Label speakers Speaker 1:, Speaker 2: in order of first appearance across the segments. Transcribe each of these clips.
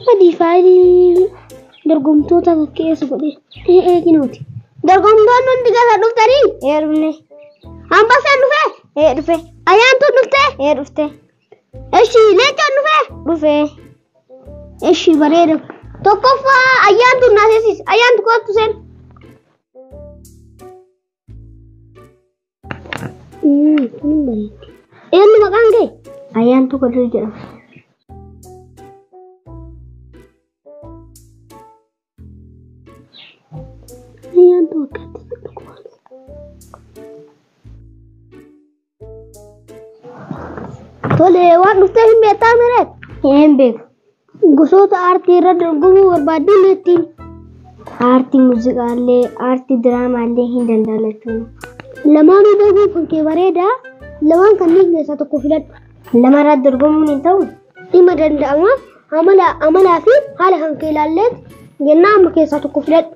Speaker 1: Sadii faayilii dorgomtoota fakkeessu godhe. Ee eeginooti. Dorgomtoonni hundi gasa dhuftanii? Ee dhufne.
Speaker 2: Ambasaan
Speaker 1: dhufee? Ee dhufe. Ayaantuun
Speaker 2: dhuftee?
Speaker 1: Ee dhufte.
Speaker 2: Eshi
Speaker 1: leencaan dhufee? Dhufe. Eshi bareeda. Tokkoffaa ayyaantuun naasisiis. Ayaantu kootu seen. Eenyu maqaan kee? Ayyaantuu Kadir
Speaker 2: jedhama. Ayyaantuu
Speaker 1: akkatti dhukkubaan. Tole waan dhuftee hin beektaa mireet? Hin beeku.
Speaker 2: Gosoota
Speaker 1: aartii irra dorgomuu barbaaddan ittiin. Aartii
Speaker 2: muuziqaallee, aartii diraamaallee hin danda'an jechuudha. Lamaanuu
Speaker 1: beekuun kan kee bareedaa lamaan kanneen keessaa tokko filadhu. Lama irratti dorgomuun
Speaker 2: hin ta'u. Dhimma danda'ama
Speaker 1: amala amalaa fi haala kan kee ilaalleet jennaa amma keessaa tokko filadhu.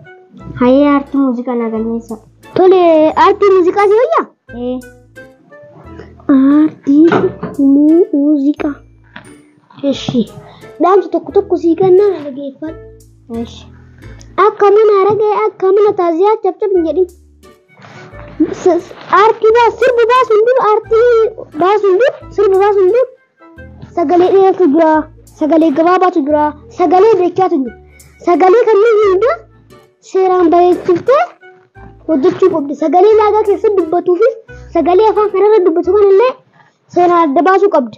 Speaker 1: Hayee aartii
Speaker 2: muuziqaa naa galmeessa. Tole
Speaker 1: aartii muuziqaa si wayyaa? Ee. Aartii muuziqaa. Eshi. Dhaamsa tokko tokko sii kennaa na dhageeffadhu. Eshi.
Speaker 2: Akka mana
Speaker 1: aragee akka mana taaziyaa cabcab hin jedhin. Aartii baas sirbi baasuun dur aartii baasuun dur sirbi baasuun dur sagalee dheeratu jira sagalee gabaabaatu jira sagalee beekaatu jira sagalee kanneen hunda seeraan bareechiftee hojjechuu qabdi sagalee laagaa keessa dubbatuufis sagalee afaan kanarra dubbatu kanallee seeraan adda baasuu qabdi.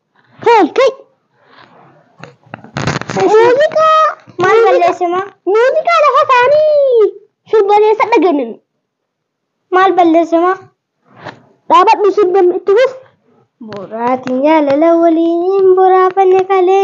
Speaker 2: Hey, kai!
Speaker 1: Muuziqaa Maal muuziqaa-
Speaker 2: balleessima? Muuziqaa lafa
Speaker 1: taa'anii sirbaneessa dhagenin.
Speaker 2: Maal balleessima?
Speaker 1: Dhaabadhu sirban itti fuf. Boraatiin
Speaker 2: jaalala waliin boraafanne kalee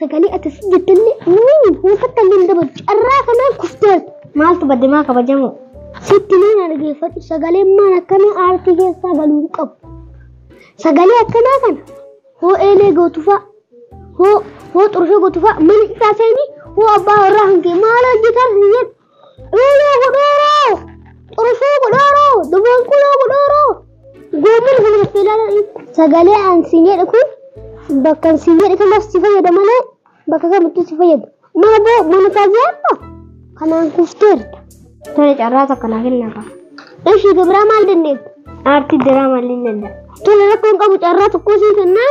Speaker 1: Sagalee akkasii jettallee nuuni huufatta illee hin dabalu. Carraa kanaan kufteerta. Maaltu badde maa
Speaker 2: kabajamoo? Sitti nuun
Speaker 1: dhaggeeffadhu sagalee maan akkanaa aartii keessaa galuu hin qabu. Sagalee akkanaa kana hoo eelee gootufaa hoo hoo xurshoo gootufaa mana isaa seenii hoo abbaa warraa hangee maal hojjetan hin jedhu Dhuuloo godhooroo! Xurufoo godhooroo! Duboonquloo godhooroo! Goommeen kun hafeelaa sagalee aan siin jedhu kun bakka aan siin jedhu kanaaf si fayyada malee bakka kamittuu si fayyadu. Mana boo mana taajaa amma kanaan kufteerta. Tole carraa
Speaker 2: takka naa kennaa qaba. Ishii gabraa
Speaker 1: maal dandeetta? Aartii diraamaa
Speaker 2: illee danda'a. Tole rakkoon qabu
Speaker 1: carraa tokkoo siin kennaa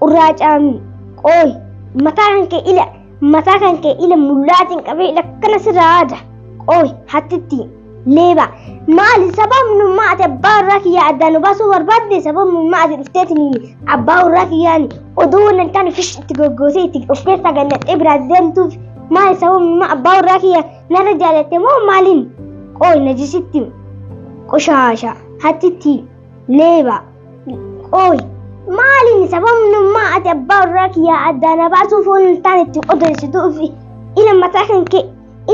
Speaker 2: Qurraacaan qooy mataa kan kee ila mataa kan kee ila mullaatiin qabee ila akkana sirraa aada qooy hattitti leeba maali sababni ummaa ati abbaa warraa kiyyaa addaan baasuu barbaadde sababni ummaa ati dhufteetiniin abbaa warraa kiyyaan oduu waan hin taane fish itti goggootee itti of keessaa gannaxxee biraa deemtuuf maali sababni ummaa abbaa warraa kiyyaa narra jaalatte moo maaliin qooy najisitti qoshaasha hattitti leeba. Qooyi maaliin sababnummaa ati abbaa warraa kiyyaa addaa na baasuu foon hin taane itti odeessituu fi ila mataa kan kee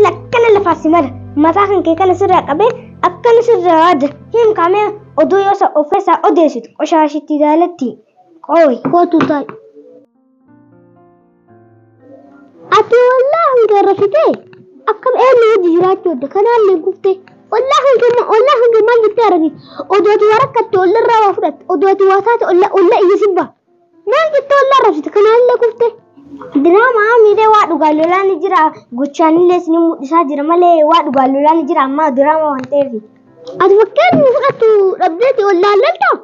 Speaker 2: ila akkana lafaa si mara mataa kan kee kana sirraa qabee akkana sirraa waada hin kaamee oduu yoo isa of keessaa odeessitu qoshaashitti daalatti qooyi. Kootu taa'e.
Speaker 1: Ati ollaa hanga irra fixee akkam eenyu wajji jiraachuu adda kanaan ni guftee ollaa hanga ollaa hanga maal jettee argite odoo ati waa rakkatte olla irraa waa fudhatte odoo ati waa taate olla olla iyya sibba maal jettee ollaa irra fixte kanaan illee guftee. Diraamaa
Speaker 2: miidhee waa dhugaa lolaa ni jira gochaanillee ni mul'isaa jira malee waa dhugaa lolaa ni jira ammaa diraamaa waan ta'eef. Ati fakkeenya
Speaker 1: fudhattu dhabdeeti ollaa loltaa?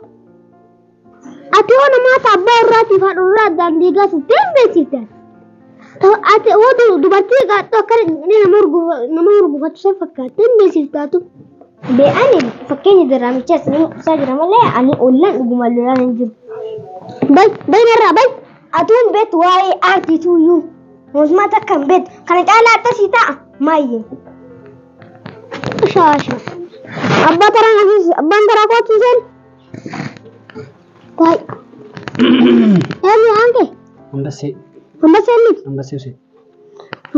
Speaker 1: Ati hoo namoota abbaa irraatiif haadha irraa addaan diigaa turtee hin beeksifte. Ati hoo dubartii gaadhoo akkana jedhee nama hurgufatu san fakkaattee hin beeksiftaatu. Be'ani
Speaker 2: fakkeenya diraamichaa isin mul'isaa jira malee ani ollaan dhuguma lolaan hin jiru. Bay
Speaker 1: baynarraa bay atuun beektu
Speaker 2: waa'ee aartii tuuyyuu mootummaa takka hin beektu kana caalaa akkasii ta'a maayyee.
Speaker 1: Shaasha. Abbaa taraa abbaan taraa kootu isheen. Baay. Yaadni waan kee. Ambassee.
Speaker 3: Ambassee miti. Ambassee usee.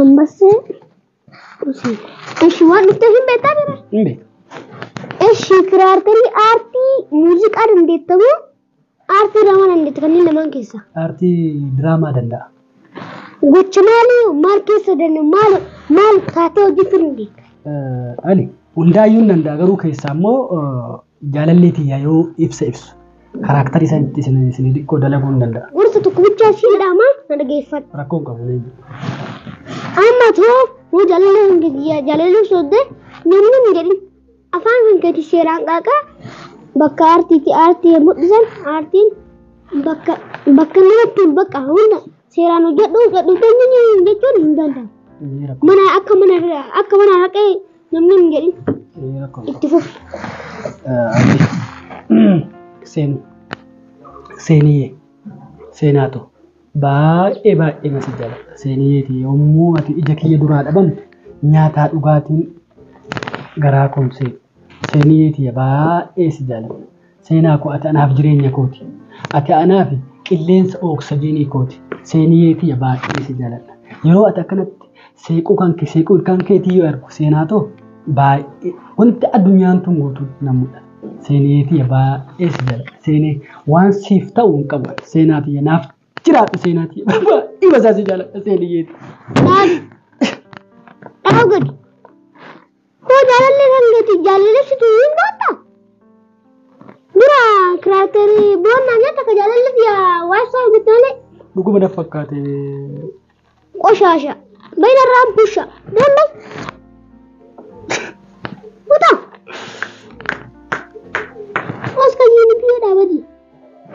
Speaker 3: Ambassee
Speaker 1: usee. Eshi waan dhuftee hin beektaa jira. Hin beeku.
Speaker 3: Eshi
Speaker 1: kiraartarii aartii muuziqaa dandeettamu aartii diraamaa dandeetta kanneen lamaan keessaa. Aartii diraamaa
Speaker 3: danda'a. Gocha
Speaker 1: maalii maal keessa danda'a maal maal taatee hojjechuu dandeetta. Eh, Ali
Speaker 3: hundaayyuu hin danda'a garuu keessaa immoo eh, Jaalallee tiyya yoo ibsa ibsu. Karaaktarii isaan itti isin isin xiqqoo dalaguu hin danda'a. Gorsa tokko bichaa si
Speaker 1: jedhama na dhageeffadhu. Rakkoo hin qabu leenji. Amma too yoo jaalallee kan kee jaa- jaalallee soodde namni hin jedhin. Afaan kan keeti seeraan qaaqaa bakka aartiiti aartii yommuu dhisan aartiin bakka bakka namatti hin bakka hunda seeraan hojjedhu hojjedhu jechuun hin danda'amu. Inni rakkoo Mana akka mana akka mana haqee Namni hin jedhin. Itti fufi. Seenu.
Speaker 3: Seeniyee. Seenaatu. Baay'ee baay'ee na si jaalladha. Seeniyeeti yommuu ati ija kiyya duraa dhabamtu nyaataa dhugaatiin garaa koomsee. Seeniyeeti baay'ee si jaalladha. Seenaa koo ati anaaf jireenya kooti. Ati anaaf qilleensa oksajinii kooti. Seeniyee tiyya baay'ee si jaaladha. Yeroo ati akkanatti seequu kan kee seequu ilkaan keetii yoo argu seenaa too baay'ee wanti addunyaan tun guutuu na mul'ata. Seeniyee tiyya baay'ee si jaaladha. Seenee waan siif ta'u hin qabu. Seenaa tiyya naaf jiraadhu seenaa tiyya baay'ee basaa si jaaladha seeniyee tiyya. Maali?
Speaker 1: Dhaabuu gadi. Koo jaalallee kan keeti jaalalleessitu hin baatta? Dura kiraakterii boonnaa nyaata akka jaalallee siya waassaa hojjette malee Dhuguma na fakkaate. qoshaasha. Bayna irraan busha. Dambe. Kutaa. Oska jiini biyya dhaabati.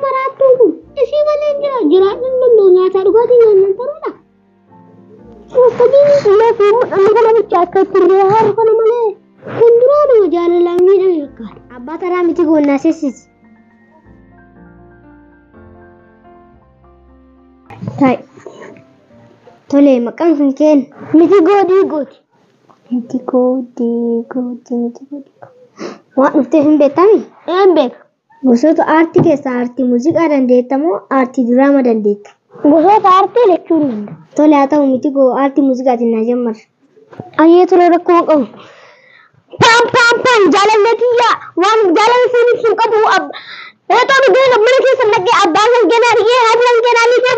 Speaker 1: Maraattuun kun isii malee jira jiraachuu hin danda'u nyaataa dhugaatii nyaannan taruudha. Akkamiin illee fi mudhanni kana bicha akka itti illee haaru kana malee kan duraa nama jaalalaan miidhame fakkaata. Abbaa taraa miti goonnaa
Speaker 2: sessisi. Ta'i. Tole maqaan kan keen. Miti goodii
Speaker 1: gooti. Miti
Speaker 2: goodii gooti miti goodii gooti. Waan dhuftee hin beektami? Een beeka.
Speaker 1: Gosoota aartii
Speaker 2: keessaa aartii muuziqaa dandeetta moo aartii diraama dandeetta? Gosoota aartii
Speaker 1: lachuu hin danda'u. Tole haa ta'u miti
Speaker 2: koo aartii muuziqaatiin naa jammarra. Ayyee tole
Speaker 1: rakkoo hin qabu. Paam paam paam jaalallee kiyya waan jaalala siin ibsu hin qabu. Reexoo dhuggee mana keessa naqee abbaan kan kee naa dhigee haati kan kee naa dhiigee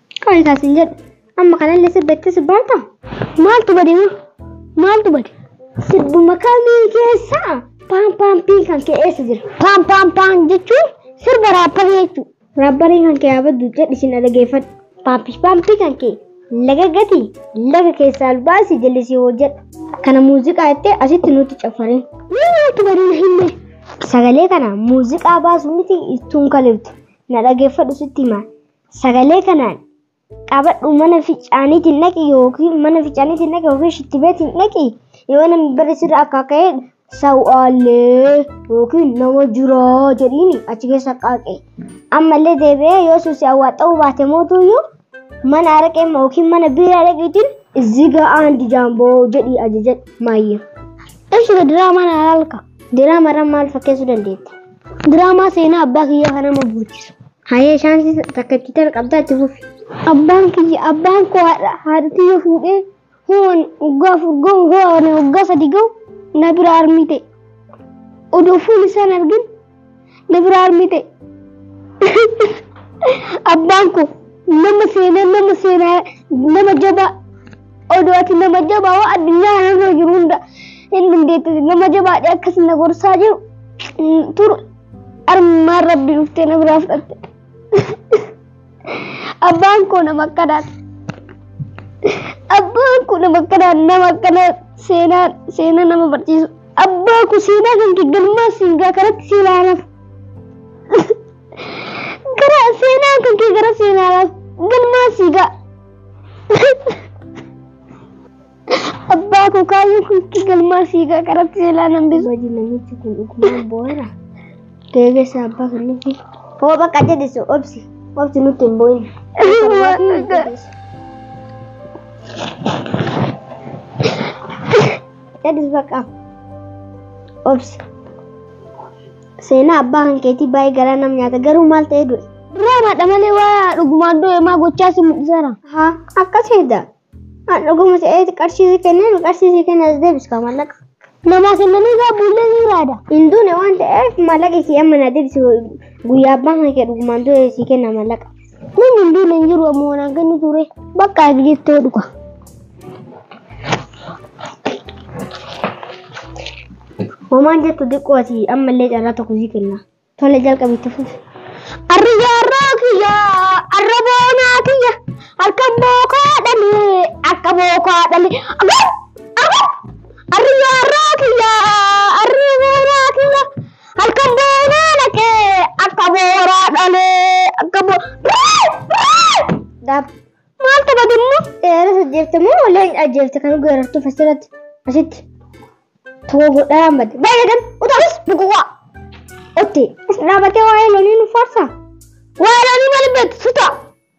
Speaker 2: Kan isaa sin jedhu. Amma kanallee sirba itti sirbaan ta'a. Maaltu bade
Speaker 1: moo? Maaltu bade?
Speaker 2: Sirbuma kamii keessa paan paan piin kan kee eessa jira? Paan
Speaker 1: paan
Speaker 2: paan jechuun sirba raapparii jechuudha. Raapparii kan kee abaddu jedhi sin dhageeffadhu. Paampish paampii kan kee laga gati laga keessaa albaasi jallisii hojjedha. Kana muuziqaa jettee asitti nutti caffarin. Mee maaltu bade na
Speaker 1: himme? Sagalee kana
Speaker 2: muuziqaa baasu miti ittuun kaliftu. Na dhageeffadhu sitti himaa. Sagalee kanaan qabadhu mana ficaaniitiin dhaqi yookiin mana ficaaniitiin dhaqi yookiin shittibeetiin dhaqi yoo namni barri sirra akka ka'e sawaallee yookiin nama jiraa jedhiin achi keessa qaaqe. Ammallee deebi'ee yoo suusi awwaaxxa'uu baate mootuyyuu mana araqee yookiin mana biiraa dhaqiitiin ziga aandi jaamboo jedhii ajaja maayya. Eshi
Speaker 1: diraamaa na halka. Diraamaa irraa maal
Speaker 2: fakkeessuu dandeetta? Diraamaa seenaa
Speaker 1: abbaa kiyyaa kan nama boochisu. Hayee shaansi
Speaker 2: takka itti tan qabdaa itti fufi. Abbaan kiyya
Speaker 1: abbaan koo haadha haadha tiyya fuudhee hoon waggaa afur gahu hoon waggaa sadi gahu na bira armii ta'e. Odoo fuul isaan argin na bira armii ta'e. Abbaan koo nama seenaa nama seenaa nama jabaa Oduu ati nama jabaa waan addunyaa kanarra jiru hunda hin dandeette nama jabaadhe akkas na gorsaa jiru mm, turu armaan rabbi dhuftee na biraa fudhatte. Abbaan koo nama akkanaati. Abbaan koo nama akkanaa nama akkanaa seenaa seenaa nama barsiisu. Abbaa koo seenaa kan kee galmaa siingaa kanatti si ilaalaaf. Gara seenaa kan kee gara seenaa laaf galmaa siigaa. Abbaa koo kaayyoo kun itti galmaa sii qaqqaratti seelaa nan bisu. Baji namichi kun
Speaker 2: dhugumaan boo'eera. Deegessa abbaa kan nuti. Hoo bakka jedhisu obsi. Obsi nutti hin boo'in. Waan adda. Jedhis bakka. Obsi. Seenaa abbaa kan keetii baay'ee garaa nam nyaata garuu maal ta'ee du'e? Diraamaadha malee
Speaker 1: waa dhugumaan du'e maa gochaa si mul'iseera. Haa akkas
Speaker 2: hedda. Haa dhuguma ta'eeti qarshii si kenneen qarshii si kenne as deebiskaa mallaqa. Namaa kennanii
Speaker 1: gaa buullee ni raada. Hin duune waan ta'eef
Speaker 2: mallaqa kee amma na deebisi guyyaa abbaan kan kee dhugumaan du'e si kenna mallaqa. Namni hin duune hin
Speaker 1: jiru ammoo waan akka inni ture. Bakka ati jettee dhuga.
Speaker 2: Homaan jettu xiqqoo ati ammallee carraa tokko sii kenna. Tole jalqabi itti fufi. Arriyaa irraa
Speaker 1: kiyya, arra boonaa kiyya, halkan bookaa dhale, akka bookaa dhale. Agar! Agar! Arriyaa irraa kiyya, arra boonaa kiyya, Halkan boonaa naqee akka booraa dhalee akka bo. Daab.
Speaker 2: Maal taphate immoo? Seera sajjeefte moo oleen ajjeefte kan geerartuuf asirratti asitti tokko godhaa hambate. Baay'ee kan utaalis bukuqaa. Otti.
Speaker 1: As
Speaker 2: dhaabatee waa'ee
Speaker 1: loonii
Speaker 2: nu faarsa.
Speaker 1: Waa'ee
Speaker 2: loonii maal
Speaker 1: beektu
Speaker 2: sutaa?